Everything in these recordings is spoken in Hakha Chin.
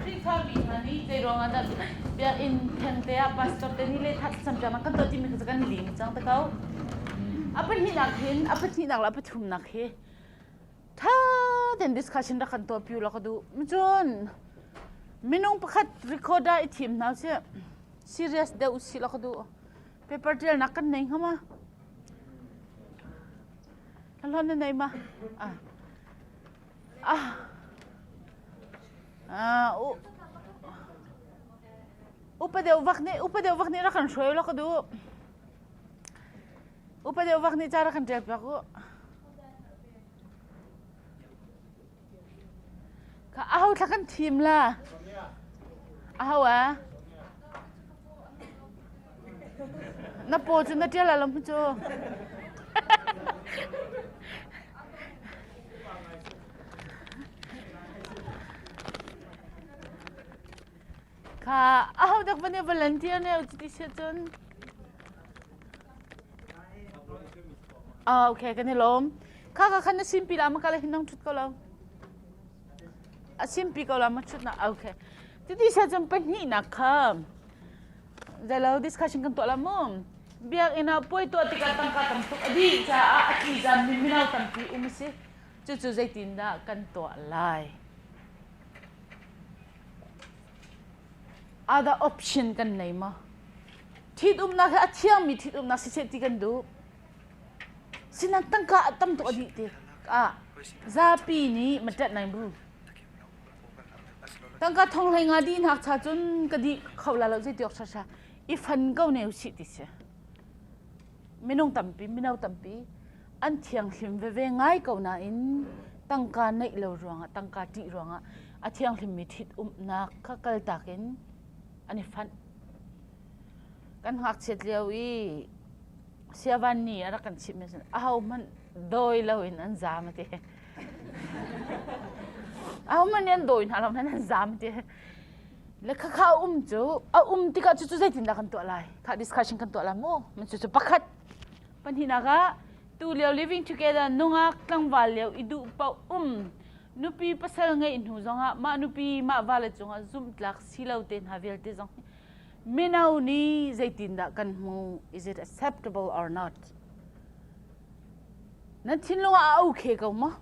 Khrihfami hna nih zei ruangah dah biakinn thengte ah pastor te nih lehtha campiak kan tuah timi kha cu kan lim cang te ko. A pahnihnak hin a pahnihnak le a pathumnak hi ṭha tein discussion rak kan tuah piu law ka duh. Cun minung pakhat record ah i thim hna usih. Serious deuh usih law ka duh. Paper ṭialnak kan nei ngam a. Hlon na nei ma? Ah. Upa deuh vak nih upa deuh vak nih rak kan hruai lo ka duh. Upa deuh vak nih ca rak kan ṭial piak u. Ka ahau thla kan thim la. Ahau ah. Na paw cu na ṭial a lam cu. Kha a ho dek bane volunteer ne u ti se cun. Ah okay kan i lawm. Kha ka khan na simpi la ma kala hin nang thut ko lo. A simpi ko la ma thut na okay. Ti ti se cun pahnih nak kha Zelo discussion kan tuah la mu. Biakinn ah puai tuah tikah tangka tam tuk a dih caah a tli zan mi mino tampi um a si. Cucu zeitindah kan tuah lai? Ada option kan nei maw? Ṭhitumnak hi a thiangmi ṭhitumnak si seh ti kan duh. Sinan tangka tam tuk a dih ti ah zapi nih ma ṭat nai bu. tangka thong hlei nga di nakcha cun ka di kho la lo zeitiok sasa i fan ko ne si ti si minung tampi mino tampi an thianghlim veve ngai ko nain tangka neih lo ruangah tangka ti ruangah a thianghlim mi thit umnak kha kal takin an i fanh kan ngakchiat lio i siavan ni a rak kan chimh mi a ho hmanh dawi lo in an zam a ti a man an dawi hna lo nan zam te le kha kha um cu a um tikah cu cu zeitin dah kan tuah lai kha discussion kan tuah lai mu man cu cu pakhat panhina ka tu leo living together nungak tlangval leo i du pa um nupi pasal ngei hnu zongah ma nupi ma vale cungah zum tlak silo te hna vialte zong mino ni zeitin dah kan hmu is it acceptable or not Na thinlung ah a ukhe ko maw?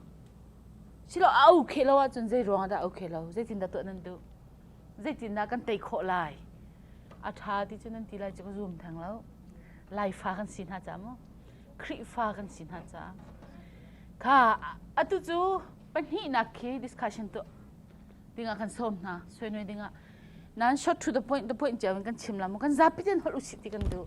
Silo a ukhe lo ahcun zei ruangah dah a ukhe lo? Zeitindah tuah nan duh? Zeitindah kan tei khawh lai? A ṭha ti cu nan ti lai cu ka zum theng lo. Laifa kan si hna caah maw, Khrihfa kan si hna caah. Kha atu cu pahnihnak khi discussion tuah dingah kan sawm hna. Suainui dingah. Nan short to the point, the point cio in kan chim la maw? Kan zapi ten holh usih ti kan duh.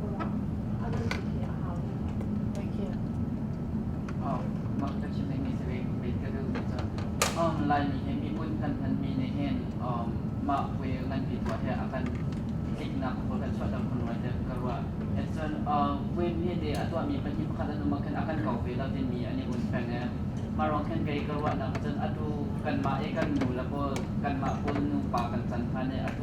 Laimi he mi hmun phanphan mi nih hin mah puai nganpi tuah he a kan tliknak a kan chuah dang hun rai dek ka ruah. Etcun puai mi de a tuah mi pahnih pakhat an um khan a kan kau ve lo timi an i un peng e. Mah ruang khan kei ka ruahnak cun atu kanmah i kan nu le pawl kanmah pawl nupa kan can hlan e atu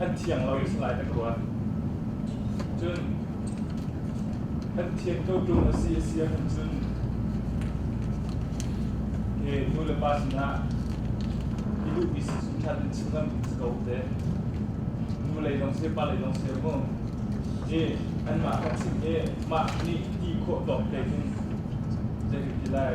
an thiang lo i salai na ka ruat cun an thian ko ṭung a si a si ahcun cun e nu le pa sinah i duhmi sisum ṭhan in chim ngam ding si ko te nu lei lawng si pa lei lawng si mu e anmah ka chimh i mah nih ti khawh tawk te in zei ka ti lai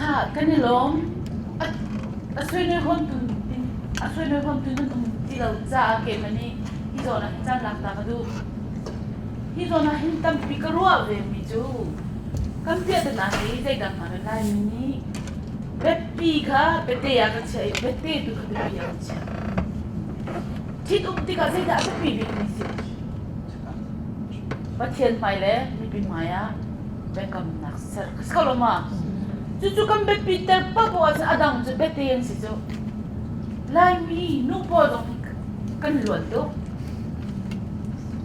Ha, kan i lawm. A, a suaimi hawntu, a suaimi hawntu nan um ti lo caah keimah nih hi zawn ah caan lak ta ka duh. Hi zawn ah hin tampi ka ruah vemi cu kan piahtana hi zeidang hna lai mi nih biapi kha biate ah ka chiah i biate tu kha biapi ah ka chiah. Ṭhitum tikah zeidah a biapi bikmi si? Pathian hmai le mipi hmai ah biakamnak ser ka si kho lo ma? Cucu kan biapi ter pa bu ahcun a dang cu biate an si cu. Laimi nu pawl zong hi kan luan tuk.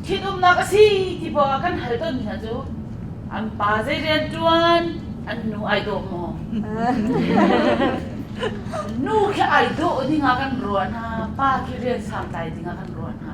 Thitumnak a si ti poah ah kan hal tawnmi hna cu an pa zei rian ṭuan, an nu ai dawh maw? Nu khi ai dawh ding ah kan ruah hna, pa khi rian santlai ding ah kan ruah hna.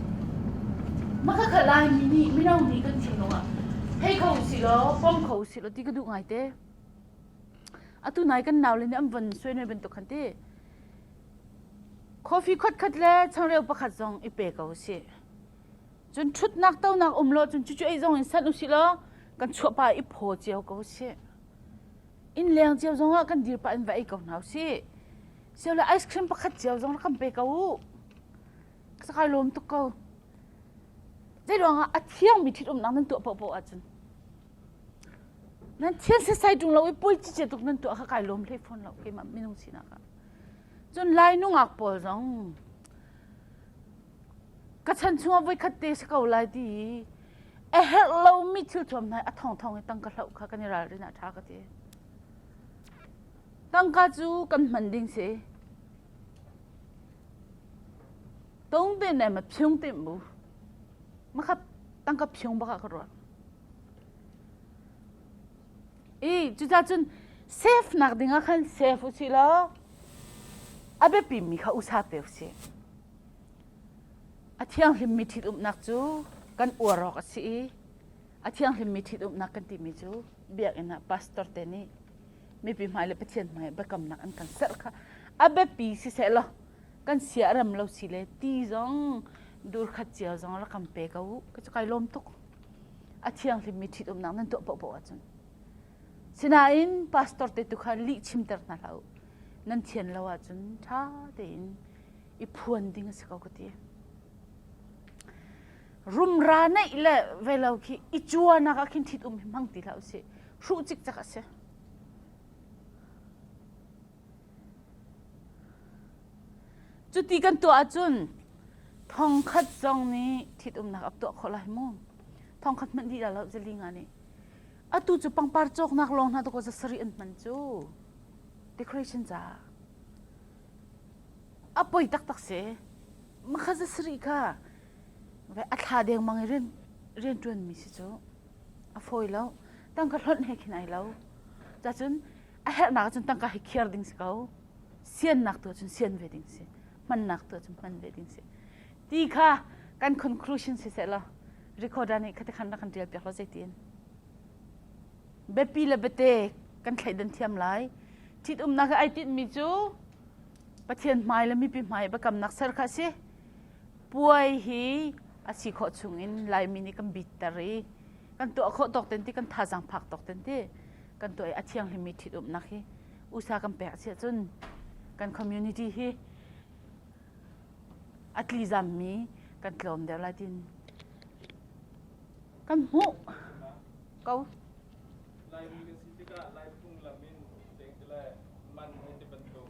Mah ka khat Laimi nih mino nih kan thinlung ah hei kho silaw pom kho silaw ti ka duh ngaite. Atu nai kan nau le nih an von suen ve bantuk khan ti coffee khat khat le changreu pakhat zong i pe ko usih. Cun ṭhutnak tonak um law cun cucu ei zong in sanh usih law kan chuahpa i phaw cio ko usih. Inn leng cio zong ah kan dir pah in va ei ko hna usih. Siole ice cream pakhat cio zong rak kan pe ko u. ka kai lawm tuk ko. Zeiruangah a thiangmi thil umnak nan tuah paohpaoh ahcun nan thian setsai ṭung lo i pulci ce tuk nan tuah kha kai lawm hlei fawn lo keimah minung sinak ah. Cun lai nungak pawl zong ka chan chungah voikhat te si ko lai ti i a herh lomi thil thuam hna i a thongthong i tang ka hloh kha kan i ralrin ah ṭha ka ti. Tangka cu kan hman ding si. Tung te ne ma phiung tim bu. Makhat tangka phiung baka ka ruat. I cuta cun safe nak ding ah khan safe u si law a biapi mi kha usa pe u si. A thianghlim mi thit umnak cu kan uar awk a si i a thianghlim mi thit umnak kan timi cu biakinn ah pastor te nih mipi hmai le Pathian hmai biakamnak an kan serh kha a biapi sisehlaw kan sia ram lo si le ti zong dur khat cio zong la kam pe ko u ka cu kai lawm tuk a thianghlim mi ṭhit umnak nan tuah pohpoh ahcun sinain pastor te tu kha lih chimter hna hlah u nan thian lo ahcun ṭha tein i phuan ding a si ko ka ti rumra neih le velo khi i cuanak ah khin thit um hi hmang ti hlah usih hruh cik cak a si cuti kan tuah ahcun thongkhat zong nih thit umnak ap tuah khawh lai mu thongkhat hmanh di lo zalinga nih atu cu pangpar cawknak lawng hna tuko zasari an hman cu decoration ca a poi tak tak se makha zasari kha a thla dengmang i rian rianṭuanmi si cu a fawi lo tangka hlonh he khin ai lo cacun a herhnak ahcun tangka hi khiar ding si ko siannak tu ahcun sian ve ding si hmannak tu ahcun hman ve ding si ti kha kan conclusion si seh law recorder nih khate khan rak kan ṭial piak law zeitin biapi le bate kan thleidan thiam lai ṭhitumnak i ai tinhmi cu pathian hmai le mipi hmai biakamnak ser kha a si puai hi a si khawh chungin Laimi nih kan bitter i kan tuah khawh tawk ten ti kan thazang phak tawk ten ti kan tuah i a thianghlim mi ṭhitumnak hi usa kan pek a si ahcun kan community hi a tlizam mi kan tlawm deuh lai tin kan hmuh ko Laimi kan si tikah Lai phunglam in deng te le man hei ti bantuk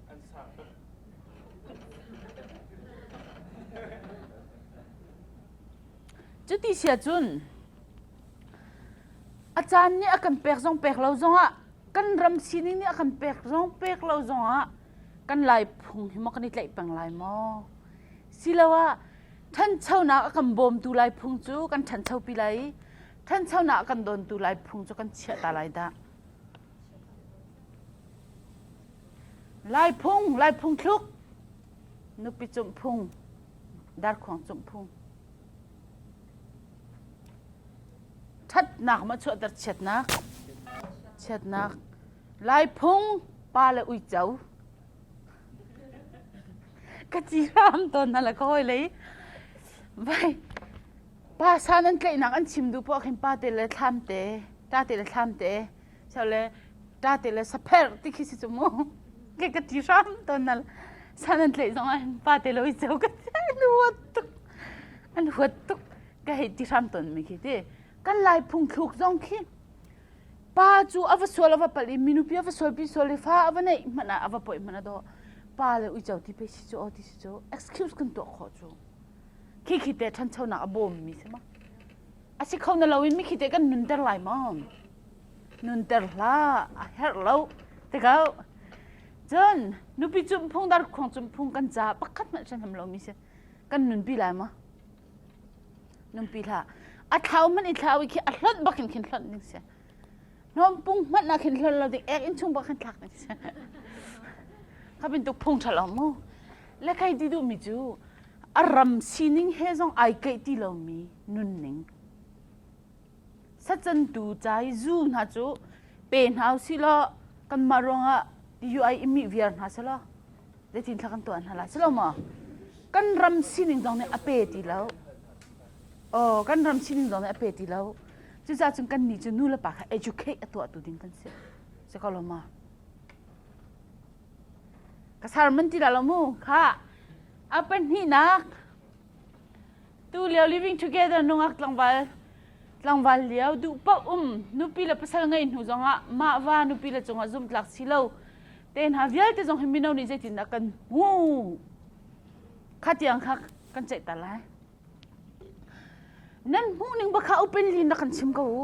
an sang tuk. Cuti sia cun a caan nih a kan pek zong pek lo zongah kan ram sining nih a kan pek zong pek lo zongah kan lai phung hi maw kan i tlaih peng lai maw siloah ṭhanchonak a kan bawmtu lai phung cu kan ṭhanchopi lai i ṭhanchonak a kan dawntu lai phung cu kan chiah ta lai dah Laiphung, Laiphung thluk, nupi cumh phung, darkhuang cumh phung. Ṭhatnak ma chuahter chiatnak, chiatnak. Laiphung pa le uico. Ka ci hram tawn hna la ka hawi lei. Vai, pa sa nan tlaihnak an chim duh poah khin pa te le thlam te, ta te le thlam te. chale ta te le sapher ti khi si chu mu ke ka ti hram to nal san an tlei zong an pa te lo i cheu ka an huat tuk an huat tuk ka hei ti hram ton mi khi ti kan lai phung thluk zong khi pa chu ava sual ava pal i minu pi ava sual pi sual i fa ava nei mana ava poi mana do pa le ui chau ti pe si chu o ti si chu excuse kan to kho chu khi khi te than chau na bom mi se ma asi khau na lo in mi khi te kan nun ter lai ma nunter hlah a herh lo ti ko cun nupi cunphung dar khuang cunphung kan ca pakhat hmanh hranham lomi si kan nunpi lai maw nunpi hlah a thlau hmanh i thlau i khi a hlonh bak in khin hlonh ding si hnompung hmanh ah khin hlon lo ding ek in chung bak khan thlak ding si kha bintuk phung ṭha lo mu lekhai ti duhmi cu a ram sining he zong ai keih ti lomi nunning Sacantu cai zu hna cu pe hna u sih law kanmah ruangah yuai i mih viar hna seh law zeitin thla kan tuah hna lai si lo maw? Kan ram sining zong nih a pe ti lo. Aw, kan ram sining zong nih a pe ti lo. Cucaah cun kannih cu nulepa kha educate a tuahtu ding kan si. Si ko lo maw? Ka sermon ti la lo mu. Kha a pahnihnak Tulio living together nungak tlangval tlangval lio duh paoh um nupi le pasal ngei hnu zongah mah va nupi le cungah zumtlak si lo te hna vialte zong hi mino nih zeitindah kan hmuh kha tiang kha kan ceih ta lai nan hmuh ning bak kha upen li in rak kan chim ko u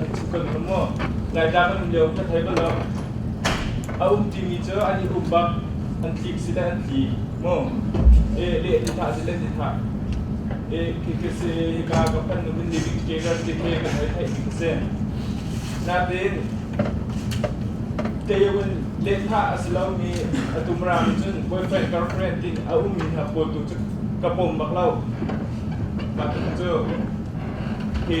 an thu kan hnung maw ngaitlak an um lio ka thei bal lo a um timi cu an i um bak an tlik si le an tli mu e leh ti thah si le ti thah e khi ka si hika ka pan nu in living together ti ke ka thei thei ti ka si natin teiwin letha asilomi atumrami cun boyfriend girlfriend tin a ummi hna pawltu cu ka pom bak lo mah cu hi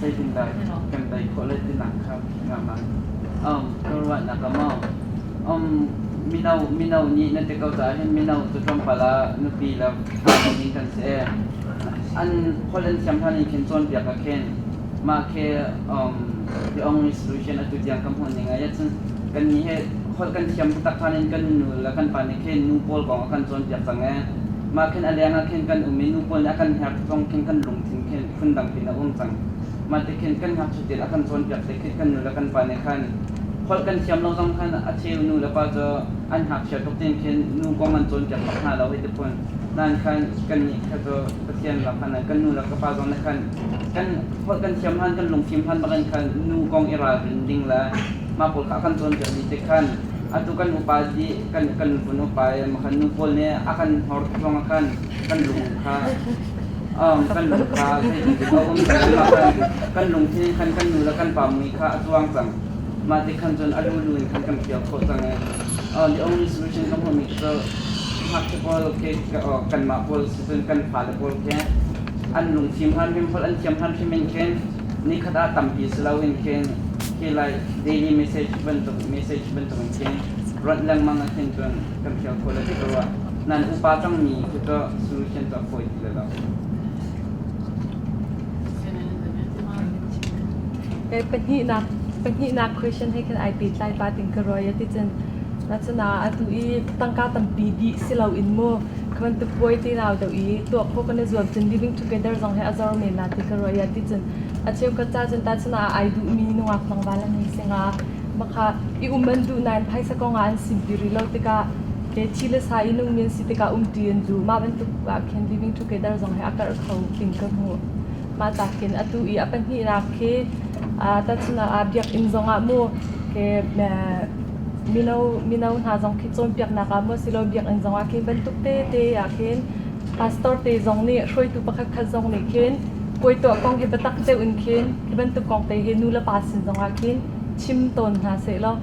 zeitindah kan tei khawh le tinak kha ngah um, ka ruahnak a mau. Um, mino mino nih na ti ko caah hin mino cu tlawmpal ah nupi le pa in kan si e an hollen thiam hna nih khin cawn biak a khen mah ke um, the only solution atu tiang kan hon ning ai cun kan ni he hol kan thiam tu tak khan in kan nu le kan pa ni khen nu paul kong kan cawn biak cang e mah khen a leng a khen kan um i nu paul nih a kan hner tong khen kan lung thin khen phundang pin a um cang. Mah ti khin kan ngakchitin a kan cawnpiak ti khi kan nu le kan pa nih khan holh kan thiam lo zong khan a cheu nu le pa cu an ngakchia tuk tin khin nu kong an cawnpiak bak hna lo hei ti phun. Nan khan kan nih kha cu Pathian lak hlan ah kan nu le ka pa zong nih khan kan holh kan thiam hlan kan lungfim hlan bak in khan nu kong i ralrin ding le mah pawl kha a kan cawnpiak dih ti khan atu kan upa di kan kan nupun upa makhan nu pawl nih a kan hnorh zong ah khan kan lung kha Kan lung kha a thei i a um cun kan lung hi khan kan nu le kan pa mui kha a tluang cang. Mah ti khan cun a lulu in khan kan pial khawh cang i the only solution ka hmuhmi cu ngakchia pawl ke kanmah pawl si cun kan fale pawl he an lungfim hlan hrim holh an thiam hlan hrim in khin nikhat ah tampi si loin khin hi lai daily message bantuk message bantuk in khin rawnh lengmang ah khin cun kan pial khawh le ti ka ruah. Nan upa cangmi cu cu solution cu a fawi ti lai lo. Kei pahnihnak pahnihnak question he khan ai pehtlai pa ting ka ruai a ticun na cuna atu i tangka tampi dih si lo in mu ka bantuk puai ti rau do i tuah phaw kan i zuam cun living together zong he a zor men na ti ka ruai a ticun a cheu ka ca cun ta cuna ai duh mi nungak nang vala ni singa maka i um an duh nain phaisa konga an sim ti rilo tikah ke thi le sa i nungmi an si tikah umṭi an zu. Mah bantuk ah khin Living Together zong he a karh kho tling ka hmuh. Mah ca khin atu i a pahnihnak khi tahchunhnak ah Biakinn zongah maw ke mino mino hna zong khi cawnpiaknak ah maw silo biakinn zongah khi bantuk tete ah khin pastor te zong nih hruaitu pakhat khat zong nih khin kuai tuah kong hi biatak deuh in khin hi bantuk kong te hi nu le pa sin zongah khin chim tawn hna seh law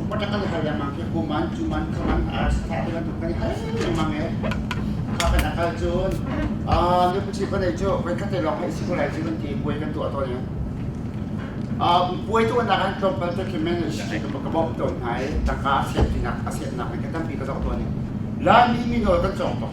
Upat a kal hal lengmang khi hmu man cu man kha man ar sa te bantuk kan i hngal lengmang e. Kha kan a kal cun ah nu phi kan ei cu voi khat te lawng kan i si ko lai cu kan ti puai kan tuah tawn e. Ah puai tu nak an tlawm pal te khi men shi ka ka bok tawn hna i tangka a siat pinak a siat nak in ka tampi ka dok tawn e. La mi mi nawl kan cawng tok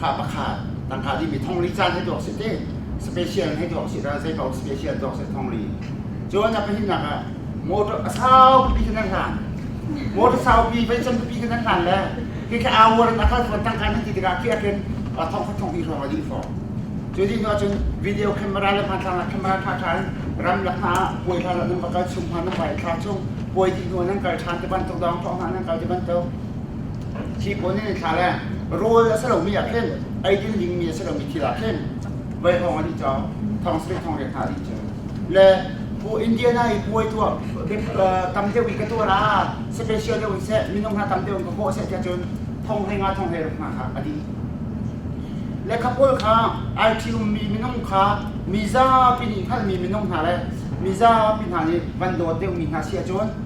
Kha pakhat tang kha dimi thongli caan hei tuak si te special hei tuak si ra zei paoh special tuak si thongli cuan a pahimnak ah motor a saupi kan an hlan motor saupi vai can pipi kan an hlan le ke ke awar na ka thon tang kan ti tikah ke aken thong thong hi ro li fo cu ni no cun video camera le hman thang camera tha tha ram lak na poi tha la nang bakal sum hman nang bai tha chung poi ti no nang kal than te ban tok dong thong hna nang kal te ban tok Thi pawl nih an thlah le rawl a si lomi ah khin eidin dingmi a si lomi thil ah khin voi hrawng a dih cang, thong sarih thong riat hna a dih cang. Le Bu Indiana i puai tuah tam deuh in ka tuah ah special deuh in seh minung hna tam deuh in ka hawh seh tiah cun thong hlei nga thong hlei ruk hna kha a dih. Le kha pawl kha ai ṭhiummi minung kha mi zapi nih hngalhmi minung hna le mi zapi hna nih van dawt deuhmi hna si ahcun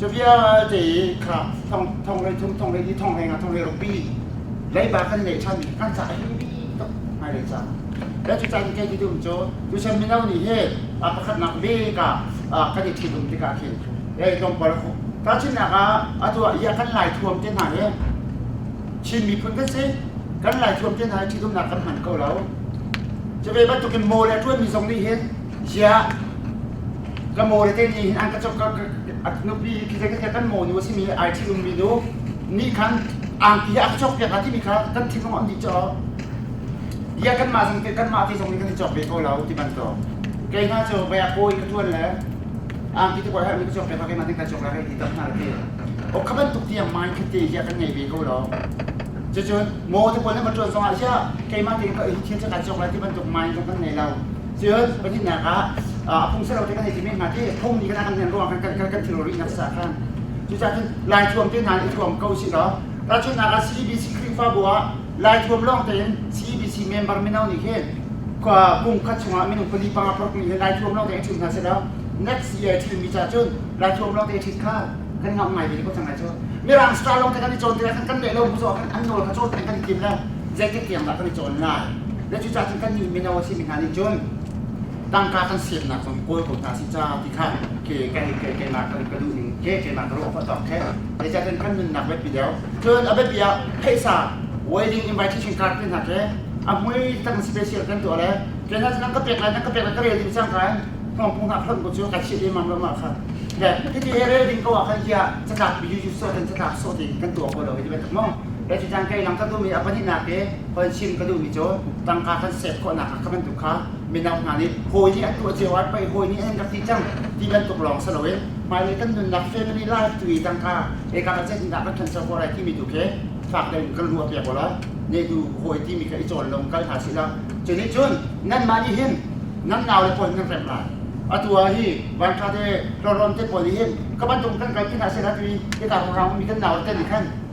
Cavia te kha thong le thum thong le i thong le nga thong le rupi leiba kan nei chan ni kan sa hi tuk mai le sa le cu chan ke ti dum cho tu sem mino ni he a pakhat nak ve ka ka di thi dum tika khin ei tong pal ko ta chin na ka atua ya kan lai thuam te na he chin mi phun kan se kan lai thuam te na thi dum na kan man ko lo chave ba tukin mo le tuan mi zong ni he Ziah ka mawle te nih hin an ka cop ka nupi hi thil zeikate kan mawnu a simi ai thil ummi nu nih khan angki ah a ka cok piak hnga timi kha kan thinlung an dih caah bia kanmah zong te kanmah te zong nih kan i cok ve ko lo ti bantuk kei hna cu vai a kawi ka tuan le angki te koe hermi ka cok piak ko keimah nih ka cok lai hei ti tam hna ti ok kha bantuk tiang mindset te hi kan ngei ve ko lo cucun maw te pawl na va tuan zongah zia keimah te ka hi thil cakah cok lai ti bantuk mind zong kan ngei lo Cun pahnihnak ah a pung ser lo te kan i tim hnga ti phung ni kan kan hlen ruang kan kan kan thil rih nak sa khan cucaah cun lai thuam te hna i thuam ko si law tahchunhnak ah CBC Khrihfabu ah lai thuam lawng tein CBC member mino nih hin kum khat chungah minung pali panga parukmi hi lai thuam lawng tein ṭhim hna se law next year ṭhimmi ca cun lai thuam lawng tein ṭhit kha kan ngam ngai ve ko cang lai cu Mirang star lawng te kan i cawn tirah kan kan leh lo bu zawh kan an nawl kha cawn kan i tim le zeitik tiang dah kan i cawn lai na cucaah cun kannih mino a simi hna nih cun tangka kan siannak zong kawl ko hna si ca ti khan ke kan i ke kenak kan ka duh ning ke kenak ka ruah awk ṭok he zeicah cun kan nunnak biapi deuh cun a biapi ah phaisa wedding invitation card te hna ke a hmui tang special kan tuah le ke hna cu nan ka pek lai nan ka pek lai ka rel ding sang khan thong pung hak hlonh ko cu ka chiah emam lam kha le hiti he rel ding ko ah khan hiah catlak bi yu yu so den catlak so ti kan tuah ko lo hi ti bantuk mong Ka cu cang kei lam ka duhmi a pahnihnak hi hoin sim ka duhmi cu tangka kan set khawhnak ah ka bantuk kha mino hna nih hawi nih a tuah cio ah pei hawi nih an rak ti cang ti bantuk lawng si loin hmailei kan nunnak family life tu i tangka e ka ka set hindah kan thanso ko lai timi tu khi fak tein kan ruah piak wala netu hawi timi kha i cawn lung kal hna sila cu nih cun nanmah nih hin nan nau le pawl nan rem lai atua hi vanṭha te hlorhom te pawl nih hin ka bantuk kan kalpi hna sila tui ika ko raung mi kan nau te nih khan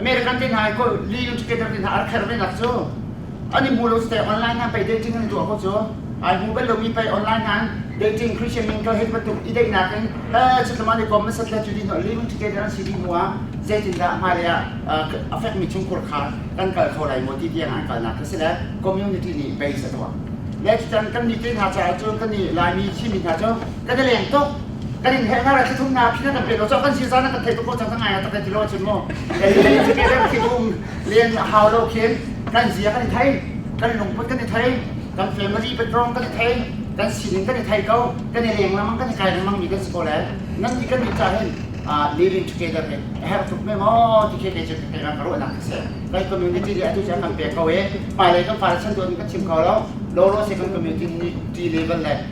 American te hna ko leading indicator te hna a kher ve nak cu an i hmu lo te online han pei dating an i tuah ko cu ai hmu bel lo mi pei online han dating christian min ka hit batuk i daih nak in ta chit laman i kom na sat la tu di no leading indicator an si di hnu ah zeitin dah hma le ah affect mi chung khur khar kan kal kho lai mo ti tiang an kal nak ka si le community nih base a tuah le can kan ni te hna caah cun kan ni laimi thimi hna cu kan i leng tuk kan in heh ngara thithum na phi kan pek ko kan sin san kan thei ko cang ngai ta kan ti lo chin mu ei ti ke dem thithum len hau lo khen kan zia kan thai kan lungput kan thai kan family background kan thai kan sining kan thai ko kan i leng lamang kan i kai lamang mi kan si ko le nan ni kan ni cha hin living together ne have to me mo ti ke ke che ke ran ro na se lai community de atu chang kan pe ko e pa lai kan pa chan don kan chim ko lo lo lo se kan community ni t level le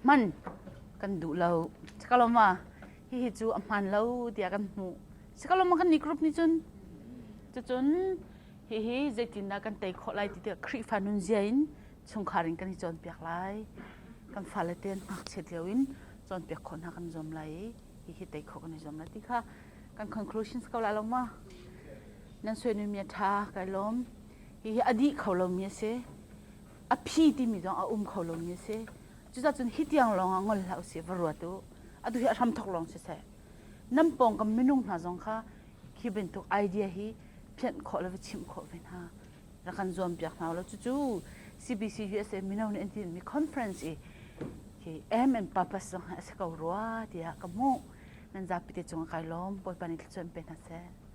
hman kan duh lo. Sikalawma, hihi cu a hmaan lo tiah kan hmuh. Sikalawma kan nih group nih cun, cucun hihi zeitindah kan tei khawh lai ti tikah Khrihfa nunzia in chungkhar in kan i cawnpiak lai. Kan fale te an ngakchiat lio in cawnpiak khawh hna kan zuam lai i hihi tei khawh kan i zuam lai ti kha kan conclusions ko lai lo ma. Nan suaimi a ṭha kai lawm. Hihi a dih kho lomi a si. a phi timi zong a um kho lomi a si. Cucacun hi tiang lawng ah ngol hlah usih, va ruat u. Atu hi a hramthawk lawng siseh, nan pawngkam minung hna zong kha khi bantuk idea hi phianh khawh le va chimh khawh ve hna. Rak kan zuampiak hna ulaw cucu CBC hi a si, mino nih an tinhmi conference i hi aim and purpose zong hi a si ko rua tiah ka hmuh. Nan zapite cung ah kai lawm. Bawipa nih thluachuan pe hna seh.